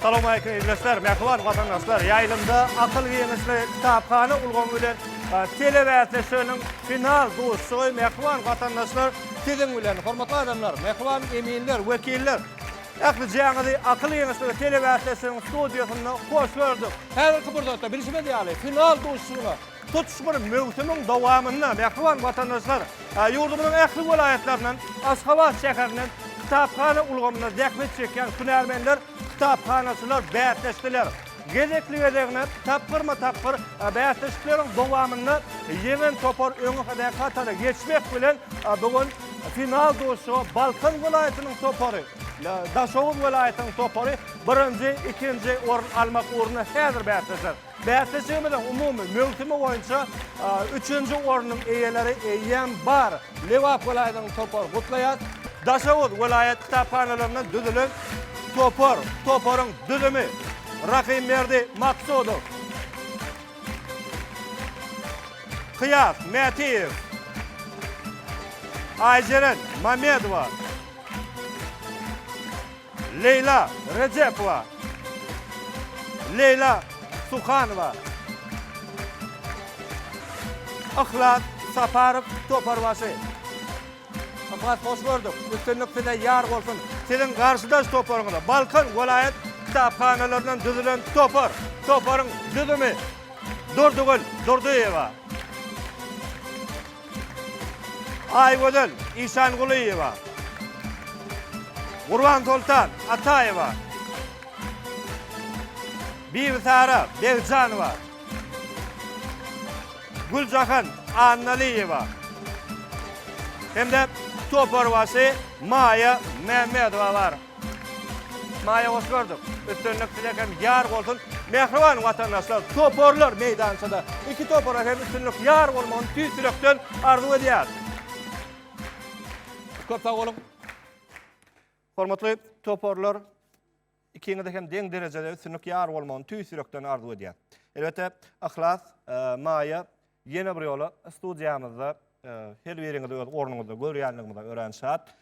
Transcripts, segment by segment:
Salowmaleýkim ildeşler, mähriban watandaşlar! Ýaýlymda akyl giňişli kitaphana ulgamy bilen telebäsleşiginiň final duşuşygy mähriban watandaşlar siziň bilen. Hormatly adamlar, mähriban eminler, wekiller! Ählijaňyzy akyl giňişligi telebäsleşiginiň studiýasynda hoş gördük. Häzirki pursatda bilşimiz ýaly final duşuşygyna Tutuş bir möwsümiň dowamynda mähriban watandaşlar ýurdumyzyň ähli welaýatlaryndan, Aşgabat şäherinden kitaphana ulgamynda zähmet çekýän hünärmenler, kitaphanaçylar bäsleşdiler. Gezekli-gezegine tapgyrma-tapgyr bäsleşikleriň dowamynda ýeňen topar öňe hatara geçmek bilen, bu gün final duşuşyga Balkan welaýatynyň topary, Daşoguz welaýatynyň topary birinji, ikinji orun almak ugrunda häzir bäsleşer. Bäsleşigimiziň umumy möwsümi boýunça üçünji ornuň eýeleri eýýäm bar. Lebap welaýatynyň topary gutlaýar. Daşoguz welaýat kitaphanalaryndan düzülen topar, toparyň düzümi, Rahymberdi Maksudow, Kyýas Mätiýew, Aýjeren Mamedowa, Leýla Rejepowa, Leýla Suhanowa, Yhlas Saparow toparbaşy. Yhlas hoş gördük. Üstünlik size ýar bolsun. Siziň garşydaş toparyňyza Balkan welaýat kitaphanalaryndan düzülen topar. Toparyň düzümi Durdygül Durdyýewa. Aýgözel Işangulyýewa, Gurbansoltan Ataýewa, Bibisara Begjanowa, Güljahan Annalyýewa hem-de toparbaşy Maýa Mämmedowa bar. Maýa Osmanow, üstünlik size hem ýar bolsun! Mähriban watandaşlar, toparlar meýdançada. Iki topara hem üstünlik ýar bolmagyny tüýs ýürekden arzuw edýäris. Köp sag boluň. Hormatly toparlar, ikiňize hem deň derejede üstünlik ýar bolmagyny tüýs ýürekden arzuw edýäris. Elbetde, Yhlas, Maýa, Ýene bir ýola studiýamyzda her biriňizi öz ornuňyzda görýänligimize örän şat.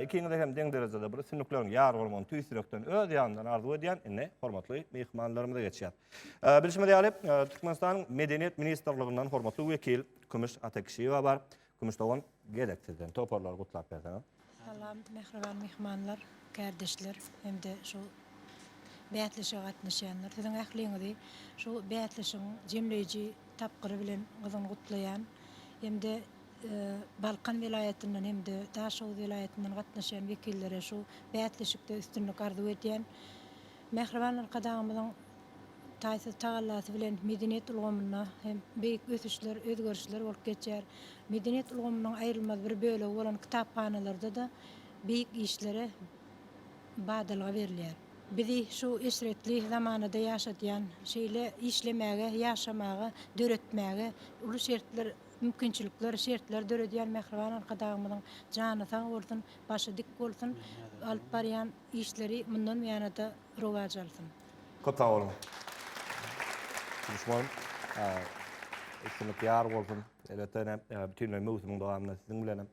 Ikiňize hem deň derejede bir üstünlikleriň ýar bolmagyny tüýs ýürekden, öz ýanymdan arzuw edýän. Indi hormatly myhmanlarymyza geçýäs. Bilşimiz ýaly, Türkmenistanyň Medeniýet ministrliginden hormatly wekil Kümüş Atakişiýewa bar. Kümüş dogan gezek sizden toparlary gutlap berseňiz. Salam mähriban myhmanlar, kärdeşler hem-de şu bäsleşige gatnaşýanlar. Siziň ähliňizi şu bäsleşigiň jemleýji tapgyry bilen gyzgyn gutlaýan hem-de Balkan welaýatyndan hem-de Daşoguz welaýatyndan gatnaşýan wekillere şu bäsleşikde üstünlik arzuw edýän. Mähriban Arkadagymyzyň taýsyz tagallasy bilen medeniýet ulgamynda hem beýik ösüşler, özgerişler bolup geçýär. Medeniýet ulgamynyň aýrylmaz bir bölegi bolan kitaphanalarda-da beýik işlere badalga berilýär. Bizi şu eşretli zamanada ýaşadýan, şeýle işlemäge, ýaşamaga, döretmäge uly şertler, mümkinçilikler, şertler döredýän mähriban Arkadagymyzyň jany sag bolsun, başy dik bolsun, alyp barýan Işleri mundanm ýanada rowaç alsyn. Köp sag boluň. Duşman. Üstünlik ýar bolsun. Elbetde ine bütinleý möwsümiň dowamynda siziň bilenem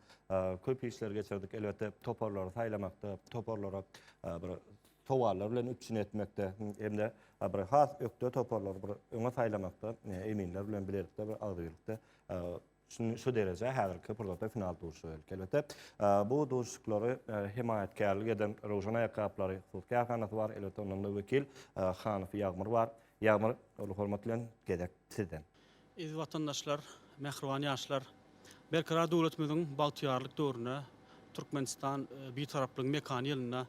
köp işler geçirdik. Elbetde toparlary saýlamakda, toparlara bir sowallar bilen üpjün etmekde hem-de bir has ökde toparlary bir öňe saýlamakda eminler bilen bilelikde bir agzybirlikde şu derejä häzirki pursatda final duşuşyga geldik. Elbetde, bu duşuşyklary hemaýatkärlik eden Röwşen aýakgaplary hut kärhanasy bar. Elbetde, ondan-da wekil Hanow Ýagmyr bar. Ýagmyr, uly hormat bilen gezek sizden. Eziz watandaşlar, mähriban ýaşlar! Berkarar döwletimiziň bagtyýarlyk döwründe, Türkmenistan Bitaraplygyň mekany ýylynda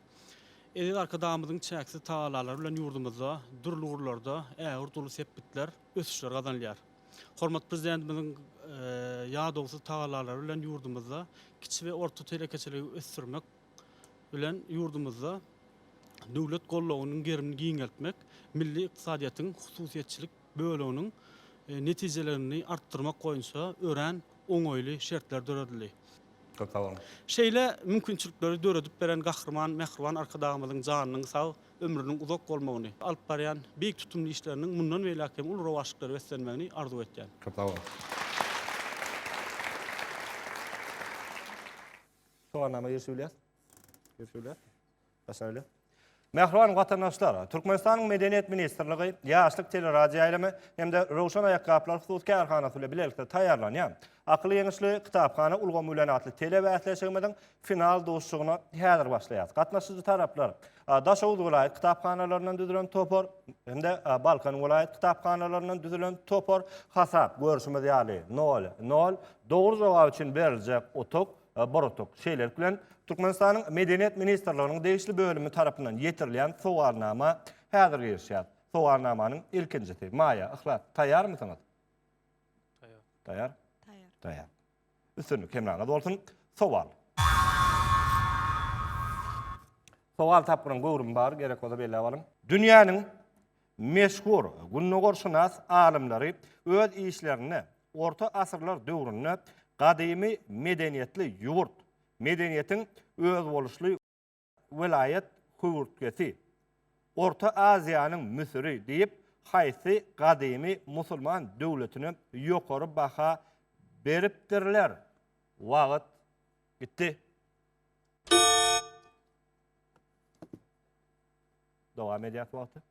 Eziz Arkadagymyzyň çäksiz tagallalary bilen ýurdumyzda dürli ugurlarda ägirt uly sepgitler, ösüşler gazanylýar. Hormatly Prezidentimiziň ýadawsyz tagallalary bilen ýurdumyzda kiçi we orta telekeçiligi ösdürmek bilen ýurdumyzda döwlet goldawynyň gerimini giňeltmek, milli ykdysadyýetiň hususyýetçilik böleginiň netijelerini artdyrmak boýunça örän oňaýly şertler döredildi. Köp sag boluň! Şeýle mümkinçilikleri döredip beren Gahryman Mähriban Arkadagymyzyň janynyň sag, ömrüniň uzak bolmagyny, alyp barýan beýik tutumly işleriniň mundan beýläk hem uly rowaçlyklara beslenmegini arzuw etýän. Köp sag bol. Soganlama girişip bilýäs. Girişip bilýäs. Başlamaly. Mähriban watandaşlar, Türkmenistanyň Medeniýet ministrligi, Ýaşlyk teleradioýaýlymy hem-de Röwşen aýakgaplar hususy kärhanasy bilen bilelikde taýýarlanýan Akyl ýeňişli, kitaphana ulgamy bilen atly telebäsleşigimiziň final duşuşygyna häzir başlaýarys. Gatnaşyjy taraplar, Daşoguz welaýat kitaphanalaryndan düzülen topar hem-de Balkan welaýat kitaphanalaryndan düzülen topar hasap, görşümiz ýaly, nol, nol, dogry jogap üçin beriljek utuk, bir utuk. Şeýlelik bilen, Türkmenistanyň Medeniýet ministrliginiň degişli bölümi tarapyndan ýetirilýän sowalnama häzir girişýär. Sowalnamanyň ilkinjisi. Maýa, Yhlas, taýýarmysyňyz? Taýýar. Taýýar? Taýýar. Taýýar. Üstünlik hemraňyz bolsun! Sowal. Sowal tapgyryň göwrümi bar, gerek bolsa belläp alyň. Dünýäniň meşhur gündogarşynas alymlary öz işlerinde orta asyrlar döwründe gadymy medeniýetli ýurt, medeniýetiň özboluşly, welaýat höwürtgesi, Orta Aziýanyň Müsüri diýip, haýsy gadymy musulman döwletine ýokary baha beripdirler? Wagt gitdi. Dowam edýäs wagty.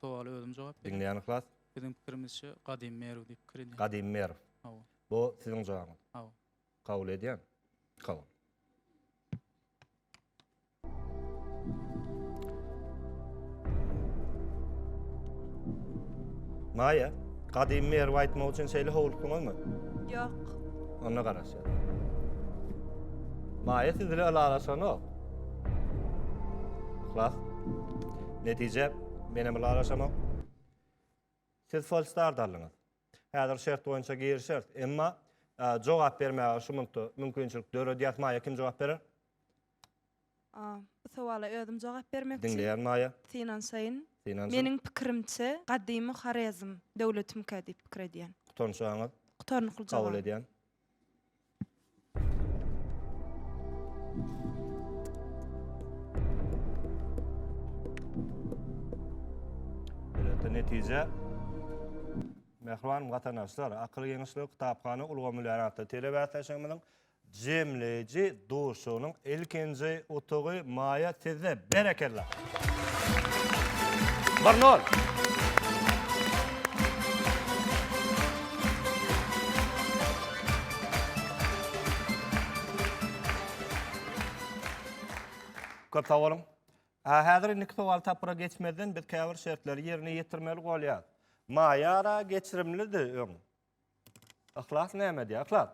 Sowala özüm jogap berýän. Diňleýän yhlas. Biziň pikirimizçe Gadymy Merw diýip pikir edýän. Gadymy Merw. Hawa. Bu siziň jogabyňyz. Hawa. Kabul edýän. Kabul. Maýa, gadymy Merwi aýtmak üçin şeýle howlukdyňyzmy? Ýok. Onda garaşýar. Maýa siz bilen ylalaşanok. Yhlas. Netije, men hem ylalaşamok. Siz Folstard aldyňyz. Häzir şert boýunça girişeris. Emma jogap bermäge şu minutda mümkinçilik döredýäs. Maýa kim jogap berer? Bu sowala özüm jogap bermekçi. Diňleýän Maýa. Synanşaýyn. Synanşyn. Meniň pikirimçe, gadymy Horezm döwletimikä diýip pikir edýän. Gutarnyşaňyz? Gutarnykly jogap. Kabul edýän. netije Mähriban watandaşlar, akyl geňeşligi kitaphana ulgamy bilen atly telebäsleşigimiziň jemleýji Duşuşygynyň ilkinji utugy Maýa sizde. Berekella! Bir nol! Köp sag boluň! A häzir indiki sowal tapgyra geçmezden biz käbir şertleri ýerine ýetirmeli bolýas. Maýa ara geçirimlidi öň. Yhlas näme diýýär? Yhlas,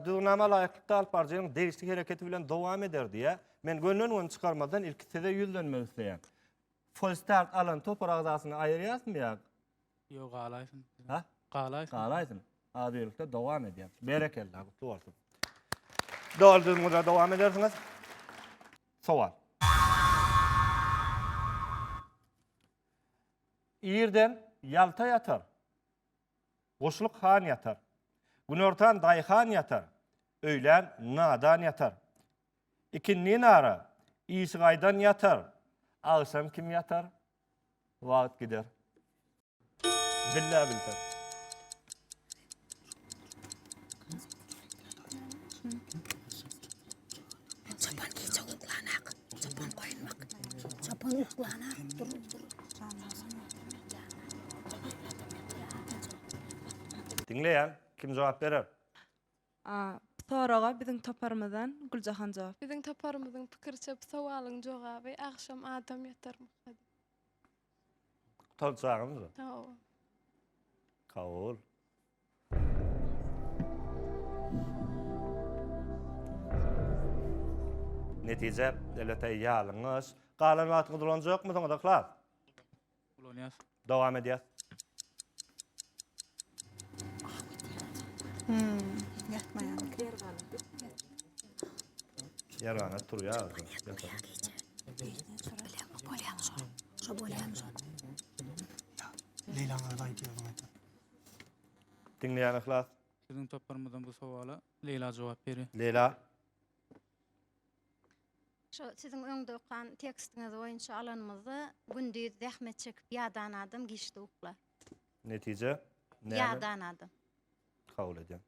düzgünnama laýyklykda alyp baryjynyň degişli hereketi bilen dowam eder diýýär. Men gönden göni çykarmazdan ilki size ýüzlenmek isleýän. Folstart alan topar agzasyny aýyrýasmy ýa? Ýok, galaýsyn. Ha? Galaýsyn. Galaýsyn. Adyýerlikde dowam edýär. Berekella, gutly bolsun. Dol düzgünde dowam edersiňiz. Sowal. Irden ýalta ýatar. Guşluk han ýatar. Günortan daýhan ýatar. Öýlän nadan ýatar. Ikindin ara işi gaýdan ýatar. Agşam kim ýatar? Wagt gider. Billä bilter. Çopan gije uklanak. Çopan goýunmak. Çopan uklanak. Dur, dur. Diňleýän, kim jogap berer? A. Bu soraga biziň toparymyzdan Güljahan jogap. Biziň toparymyzyň pikiriçe bu sowalyň jogaby agşam adam ýatarmyka diýip. Gutaryp çagyň. Hawa. Kabul. Netije, elbetde, ýalňyş. Galan wagtyňyzy ulanjakmysyňyz, Yhlas? Ulanýas. Dowam edýäs. Ýarana turýar. Bolýar. Bolýar. Leýlaňyzy aýdyp ýöriň. Diňleýän Yhlas. Biziň toparymyzdan bu sowala Leýla jogap berýär. Leýla. Şu siziň öňde okan tekstiňiz boýunça alanymyzda gündiz zähmet çekip ýadan adam giçde uklar. Netije näme? Ýadan adam. Kabul edýän.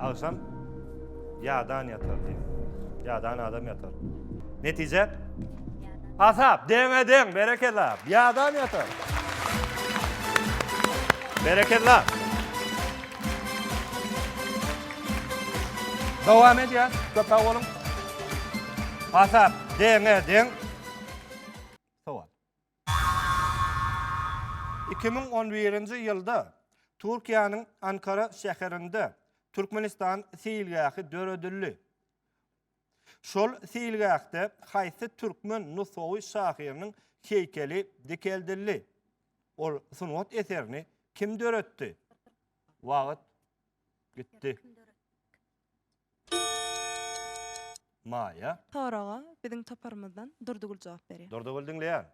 Agşam ýadan ýatar diýip. Ýadan adam ýatar. Netije? Hasap, deňe deň, berekella. Ýadan ýatar. Berekella. Dowam edýär. Köp sag boluň. Hasap, deňe deň. Sowal. Iki müň on birinji ýylda Türkiýäniň Ankara şäherinde Türkmenistan seýilgähi döredildi. Şol seýilgähde haýsy türkmen nusgawy şahyrynyň heýkeli dikeldildi? Ol sungat eserini kim döretdi? Wagt gitdi. Maýa. Soraga biziň toparymyzdan Durdygül jogap berýär. Durdygül diňleýän.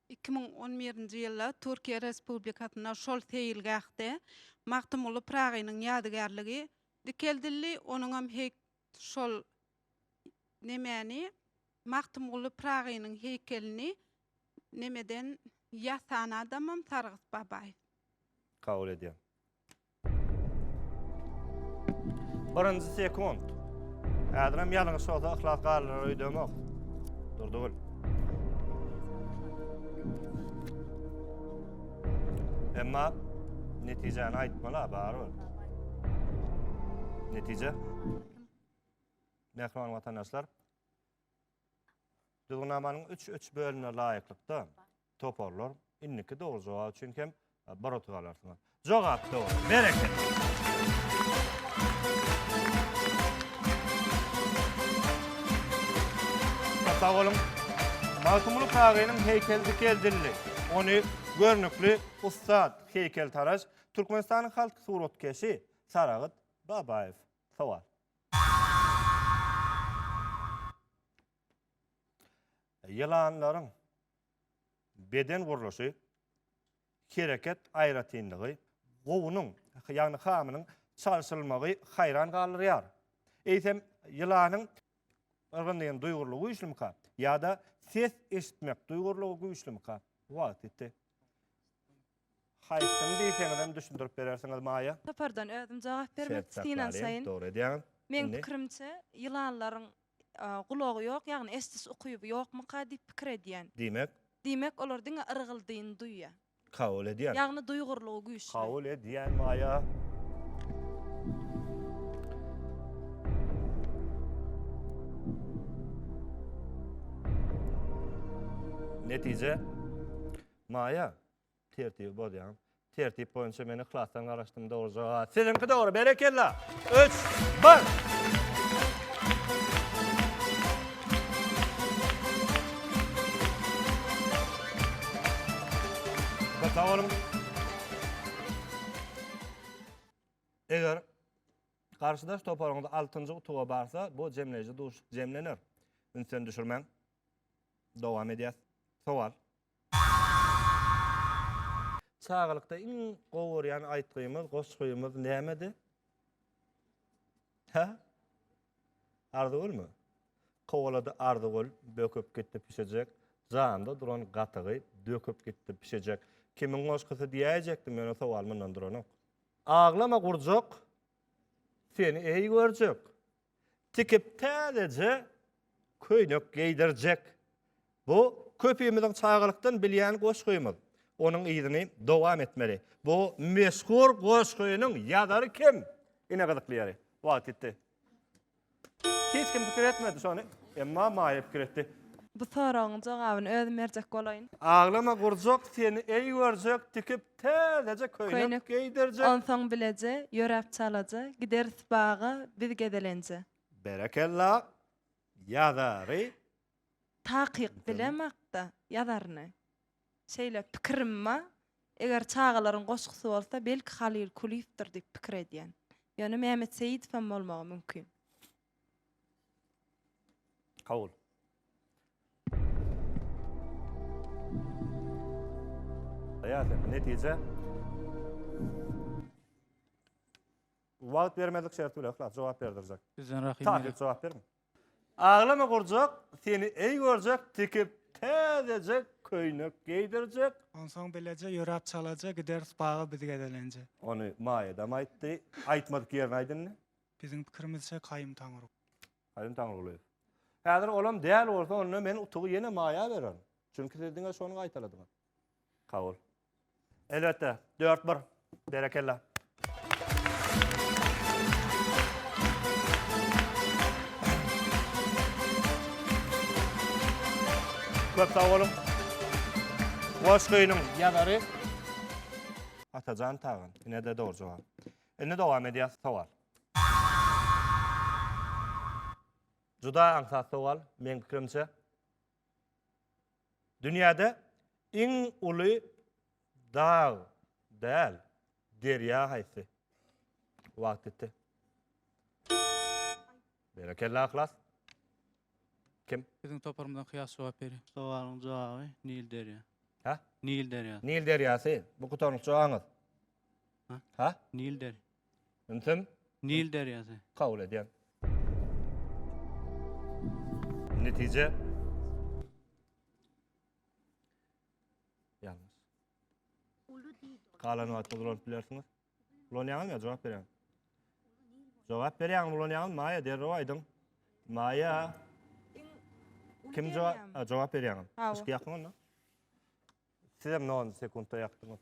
Iki müň on birinji ýylda Türkiýe Respublikasynda şol seýilgähde Magtymguly Pyragynyň ýadygärligi dikeldildi, onuňam heý şol nemäni Magtymguly Pyragynyň heýkelini nemeden ýasan adamam Sargyt Babaýew. Kabul edýän. Birinji sekund. Häzirem ýalňyş bolsa yhlas galynar öýdemok. Durdugul. Emma netijäni aýtmaly barybir. Netije. Mähriban watandaşlar. Düzgünnamanyň 3-3 bölümine laýyklykda Toparlar indiki dogry jogap üçin hem bir utuk alarsyňyz. Jogap dogry. Berekella. Sag boluň. Magtymguly Pyragynyň heýkeli dikeldildi. Ony görnükli ussat heýkeltaraş, Türkmenistanyň halk suratkeşi Saragyt Babaýew sowal. Ýylanlaryň beden gurluşy, hereket aýratynlygy, gowunyň, ýagny hamynyň çalşylmagy haýran galdyrýar. Eýsem, ýylanyň yrgyndygyny duýgurlygy güýçlümika ýa-da ses eşitmek duýgurlygy güýçlümika? Wagt ýetdi. Haýsyny diýseňizem düşündirip berersiňiz, Maýa? Topardan özüm jogap bermek synanşaýyn. Dogry edýäňiz. Meň pikirimçe, ýylanlaryň Gulagy ýok, ýagny eşdis ukyby ýokmyka diýip pikir edýän. Diýmek? Diýmek, olar diňe yrgyldyny duýýar. Kabul edýän. Ýagny duýgurlygy güýçli. Kabul edýän Maýa. Netije? Maýa, Tertibi bozýaň. Tertip boýunça men yhlasdan garaşdym dogry jogap. Siziňki dogry. Berekella. 3 1 Sag boluň. Eger garşydaş toparyňyz altynjy utuga barsa, bu jemleýji duşuşyk jemlener. Ünsden düşürmäň. Dowam edýäs. Sowal. Çagalykda iň gowy görýän aýtgymyz, goşgymyz nämedi? Hä? Arzygülmi? Kowalady Arzygül, böküp gitdi pişejek, janda duran gatygy döküp gitdi pişejek. Kimiň goşgusy diýäýjekdim, ýöne sowal mundan duranok. Aglama gurjak, seni eý görjek. tikip täzeje köýnek geýdirjek. Bu köpimiziň çagalykdan bilýän goşgymyz. Onuň yzyny dowam etmeli. Bu meşhur goşgynyň ýazary kim? Ine gyzykly ýeri. Wagt gitdi. Hiç kim pikir etmedi şony. Emma Maýa pikir etdi. Bu soragyň jogabyny özüm berjek bolaýyn. Aglama gurjak seni eý görjek tikip Täzeje köýnek geýdirjek. Onsoň bileje, ýöräp çalaja, gideris baga biz gezelenje. Berekella, ýazary. Takyk bilemok-da, ýazaryny. Şeýle pikirim ba, eger çagalaryň goşgusy bolsa, belki Halyl Kulyýewdir diýip pikir edýän. Ýöne Mämmet Seýidowam bolmagy mümkin. Kabul. Ýa-da netije Wagt bermedik şerti bilen hlas jogap berdirjek. Bizden rahim. Takyk jogap berin. Aglama gurjak, seni eý görjek, tikip täzeje köýnek geýdirjek. Onsoň bileje ýöräp çalaja gideris baga biz gezelenje. Ony Maýa da aýtdy. Aýtmadyk ýerini aýdynny. Biziň pikirimizçe Kaýum Taňryguly. Kaýum Taňrygulyýew. Häzir olam däl bolsa onda men utugy ýene Maýa bererin. Çünki siz diňe şony gaýtaladyňyz. Kabul. Elbetde. Dört bir. Berekella. Köp sag boluň. Goşgynyň ýazary Atajan Tagan. Ine-de dogry jogap. Indi dowam edýäs sowal. Juda aňsat sowal, meň pikirimçe. Dünýäde iň uly dag däl, derýa haýsy? Wagt gitdi. Berekella Yhlas. Kim? Biziň toparymyzdan Kyýas jogap berýär. Sowalyň jogaby Nil derýa. Hä? Nil derýasy. Nil derýasy. Bu gutarnykçy oňat. Ha? Nil der. Ünsem Nil derýasy. kabul edýän. Netije ýalňyş. Galan wagtda ulanyp bilersiňiz. Ulanýaňyzmy ýa jogap berýäňiz? Jogap berýäňmi, ulanýaňyzmy? Maýa derrew aýdyň. Maýa kim jogap jogap berýäňiz? Hawa. Yşky ýakyň onda. Siz hem 10 sekuntda ýakdyňyz.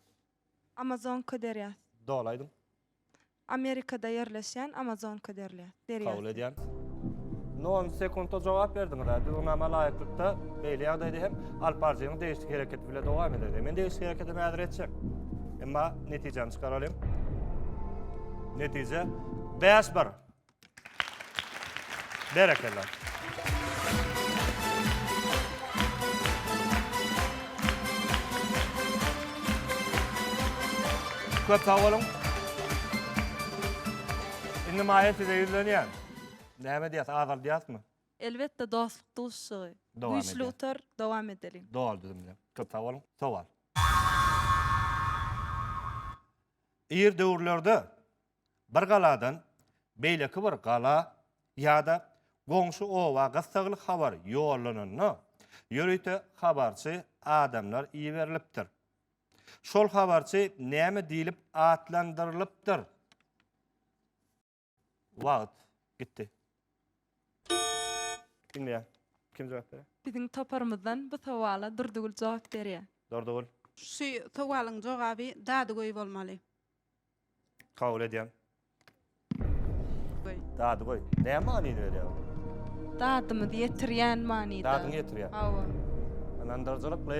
Amazonka derýasy. Doly aýdyň. Amerikada ýerleşýän Amazonka derýasy. Kabul edýän. Nol sekuntda jogap berdiňiz-ä. Düzgünnama laýyklykda beýle ýagdaýda hem alyp baryjynyň degişli hereketi bile dowam eder. Men degişli hereketimi häzir etjek. Emma netijäni çykaralyň. Netije, bäş bir. Berekella. Köp sag boluň. Indi Maýa size ýüzlenýän. Näme diýýäs, azaldýasmy? Elbetde dostluk duşuşygy. Güýçli utar, dowam edeliň. Doly düzümli. Köp sag boluň. Sowal. Ir döwürlerde. Bir galadan beýleki bir gala ýa-da goňşy oba gyssagly habar ýollananda, ýörite habarçy adamlar iberilipdir. Şol habarçy näme diýlip atlandyrylypdyr? Wagt gitdi. Diňleýän. Kim jogap berýär? Biziň toparymyzdan bu sowala Durdygül jogap berýär. Durdygül. Şu sowalyň jogaby Dadygöý bolmaly. Kabul edýän. Goý. Dady goý. Näme manyny berýär? Dadymyzy ýetirýän manyda. Dadyňy ýetirýär. Hawa. Ynandyryjylykly.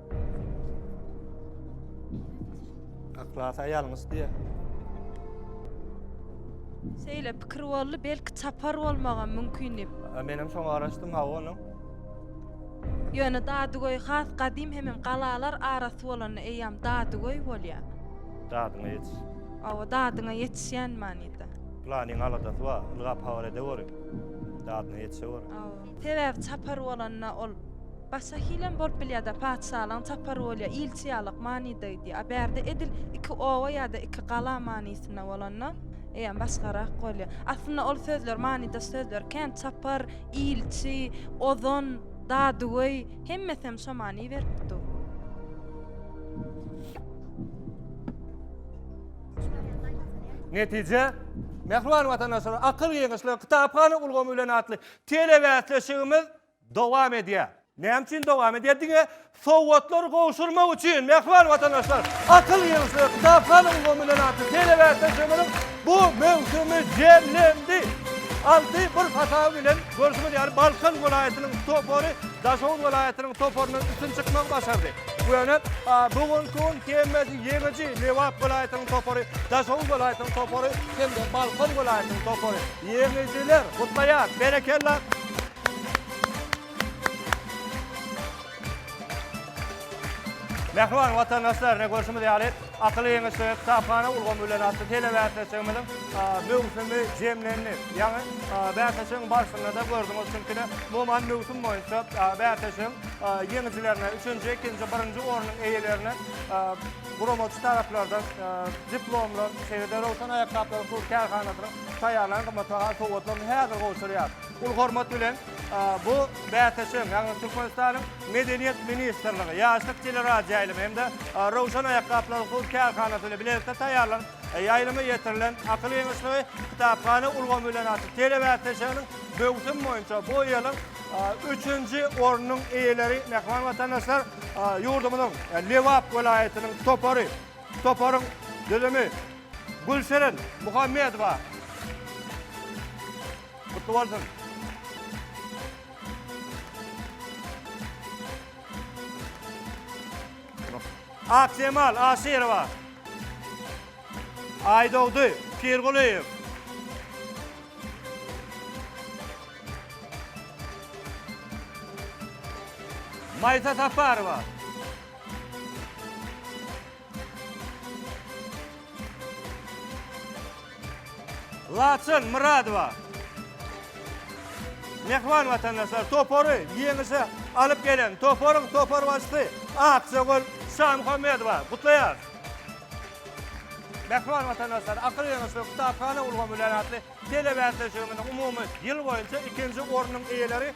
Aklas aýalyňyz diýe. Şeýle pikir boldy, belki çapar bolmagam mümkin diýip. A, Menem şoňa garaşdym, hawa onuň. Ýöne Dadygöý has gadym hemem galalar arasy bolanda eýýäm Dadygöý bolýar. Dadyňa ýetiş. Hawa, dadyňa ýetişýän manyda. Planyň aladasy bar, ylgap habar edeweriň. Dadyna ýetişeweriň. Hawa. Sebäbi çapar bolanda ol Başga hilem bolup bilýärda patyşalygyň çapary bolýa ilçi ýalak manyda gidýä a bärde edil iki oba ýada iki gala manysynda bolanda eýýäm başgarak bolýa aslynda ol sözler manydaş sözler kän çapar ilçi ozan dadygöý hemmesem şo many berip dur. Netije Mähriban watandaşlar akyl geňeşler kitaphana ulgamy bilen atly telebäsleşigimiz Dowam edýär. Näme üçin dowam edýär? Diňe sowgatlary gowşurmak üçin. Mähriban watandaşlar, akyl ýygnsa, kitaphalyň gomünden artyk telebäsden sömürip, bu möwsümi jemlendi. Alty bir hasaby bilen, görşüňiz ýaly, Balkan welaýatynyň topary Daşoguz welaýatynyň toparyndan üstün çykmagy başardy. Bu ýöne, bu günki gün hemmesi ýeňiji, Lebap welaýatynyň topary, Daşoguz welaýatynyň topary hem-de Balkan welaýatynyň topary. Ýeňijiler gutlaýar! Berekella! Mähriban watandaşlar, ine görşümiz ýaly, Akyl ýeňişligi kitaphana ulgamy bilen atly telebäsleşigimiziň möwsümi jemlendi. Ýaňy bäsleşigiň barşynda-da gördüňiz, çünki-de umuman möwsüm boýunça bäsleşigiň ýeňijilerine, üçünji, ikinji, birinji ornuň eýelerine guramaçy taraplardan diplomlar, şeýle-de Röwşen aýakgaplaryň hut kärhanasynyň taýýarlan gymmatbaha sowgatlaryny häzir gowşurýar. Uly hormat bilen, bu bäsleşigiň, ýagny Türkmenistanyň Medeniýet ministrligi, Ýaşlyk teleradioýaýlymy hem-de Röwşen aýakgaplaryň hut kärhanasy bilen bilelikde taýýarlanyp, ýaýlyma ýetirilen Akyl ýygyçlygy kitaphana ulgamy bilen açyk telebäsleşiginiň möwsüm boýunça bu ýylyň üçünji ornunyň eýeleri mähriban watandaşlar, ýurdumyzyň Lebap welaýatynyň topary, toparyň düzümi, Gülseren Muhammedowa. Gutly bolsun. Akjemal Aşyrowa. Aýdogdy Pirgulyýew. Maýsa Saparowa. Laçyn Myradowa Mähriban watandaşlar topary ýeňişe alyp gelen toparyň toparbaşysy Aksögül Şamuhammedowa gutlaýarys. Mähriban watandaşlar, Akyl ýeňişli kitaphana ulgamy bilen atly telebäsleşigimiziň umumy ýyl boýunça ikinji ornuň eýeleri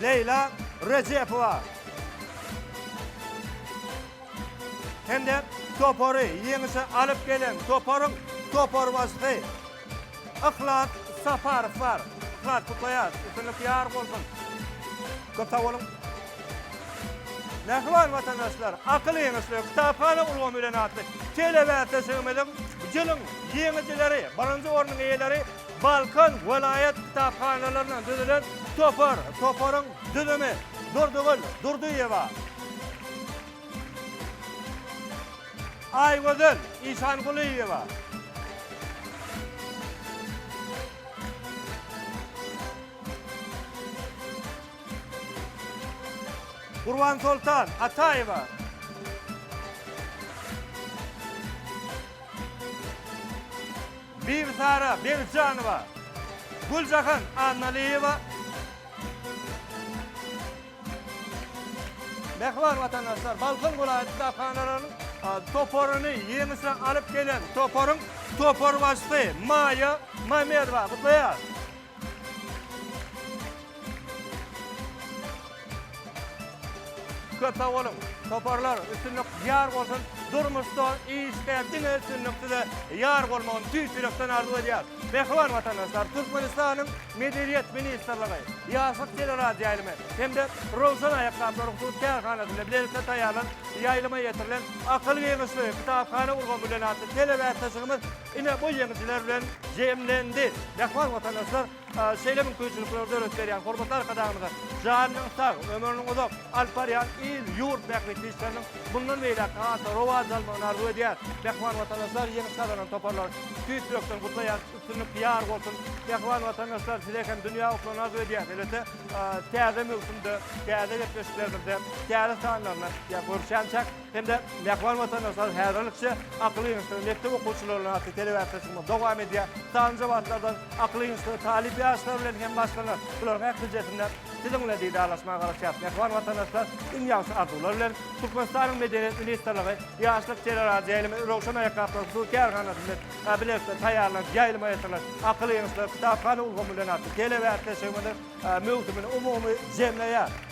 Leýla Rejepowa hem-de topary ýeňişe alyp gelen toparyň toparbaşysy Yhlas Saparow bar. Yhlas, gutlaýarys! Üstünlik ýar bolsun! Köp sag boluň! Mähriban watandaşlar, Akyl ýeňişleri, kitaphana ulgamy bilen atly telebäsleşigimiziň bu ýylyň ýeňijileri, birinji ornuň eýeleri Balkan welaýat kitaphanalaryndan düzülen topar. Toparyň düzümi, Durdygül Durdyýewa, Aýgözel Işangulyýewa, Gurbansoltan Ataýewa. Bibisara Begijanowa. Güljahan Annalyýewa. Mähriban watandaşlar, Balkan welaýat kitaphanalarynyň toparyny ýeňişe alyp gelen toparyň toparbaşysy Maýa Mamedowa gutlaýarys. Köp sag boluň! Toparlar üstünlik ýar bolsun durmuşda işde diňe üstünlik size ýar bolmagyny tüýs ýürekden arzuw edýäs. Mähriban watandaşlar Türkmenistanyň Medeniýet ministrligi, Ýaşlyk teleradioýaýlymy hem-de Rowşan aýakgaplary hususy kärhanasynda bilelikde taýýarlanyp ýaýlyma ýetirilen Akyl giňişligi kitaphana ulgamy bilen atly telebäsleşigimiz Ine bu ýeňijiler bilen jemlendi. Mähriban watandaşlar, şeýle mümkinçilikleri döredip berýän hormatly Arkadagymyza janynyň sag, ömrüniň uzak, alyp barýan il, ýurt bähbitli işleriniň mundan beýläk-de has-da rowaç almagyny arzuw edýär. Mähriban watandaşlar, ýeňiş gazanan toparlary tüýs ýürekden gutlaýarys. Üstünlik ýar bolsun! Mähriban watandaşlar, size hem dünýä utulyny arzuw edýäs. Elbetde, täze möwsümde, täze gepleşiklerimizde, täze sanlarynda ýa görüşýänçäk. hem-de Mähriban Watandaşlar häzirlikçe akyl ýygnaşygyny mekdep okuwçylaryndan atly telebäsleşigimiz dowam edýär. Sanjy wagtlardan akyl ýygnaşygy talyp ýaşlar bilen hem başga-da bularyň ählisinde siziň bilen didarlaşmaga garaşýar. Mähriban Watandaşlar, iň ýagşy arzuwlar bilen, Türkmenistanyň Medeniýet ministrligi, Ýaşlyk teleradioýaýlymy, Röwşen aýakgaplar hususy kärhanasy bilen bilelikde taýýarlanyp ýaýlyma ýatyrylan Akyl ýygnaşyklary kitaphana ulgamy bilen atly telebäsleşigimiziň möwsümini umumy jemleýär.